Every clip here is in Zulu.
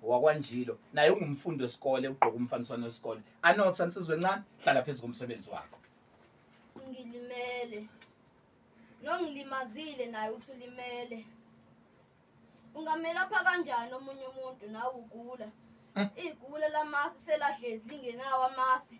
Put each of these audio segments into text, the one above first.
wakwanjilo naye ungumfundi wesikole ugqoka umfaniswano wesikole anotha nsizwa encane hlala phezu komsebenzi wakho ngilimele nongilimazile naye uthi ulimele ungamelapha kanjani omunye umuntu nawe ugula hmm. igula lamasi selahlezi lingenawo amasi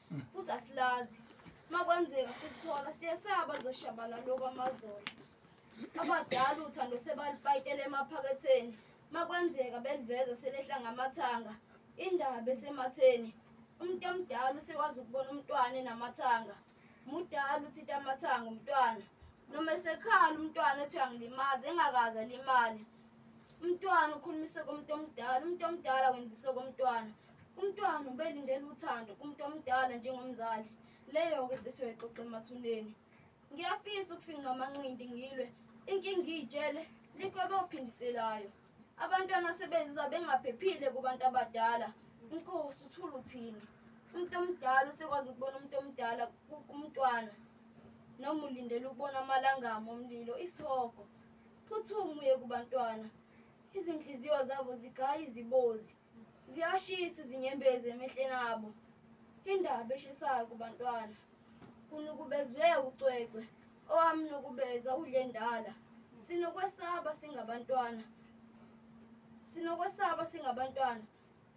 futhi asilazi makwenzeka sikuthola siyesaba zoshabana lokhu amazolo abadala uthando sebalipayitela emaphaketheni makwenzeka beliveza selehla ngamathanga indaba esematheni umuntu omdala usekwazi ukubona umntwana enamathanga mudala uthita amathanga umntwana noma esekhala umntwana ethi uyangilimaza engakaze alimale umntwana ukhulumise komuntu omdala umuntu omdala wenzise komntwana Umntwana ubelindele uthando kumuntu omdala njengomzali. Leyo-ke zisiyoyixoxa emathuneni. Ngiyafisa ukufinqa amanqindi ngilwe. Inkinga iyitshele likwebe ophindiselayo. Abantwana sebezizwa bengaphephile kubantu abadala. Inkosi uthula uthini. Umuntu omdala usekwazi ukubona umuntu omdala umntwana. Noma ulindele ukubona amalangama omlilo isihogo. Phuthuma uye kubantwana. Izinhliziyo zabo zigaya izibozi. ziyashisa izinyembezi emehleni abo indaba eshisayo kubantwana kunukubezwe ucwecwe owamnukubeza udlendala sinokwesaba singabantwana sinokwesaba singabantwana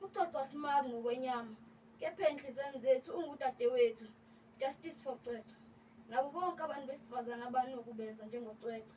uxoxwa simazi ngokwenyama kepha enhlizweni zethu ungudadewethu justice for cwecwe nabo bonke abantu besifazane abanukubeza njengocwecwe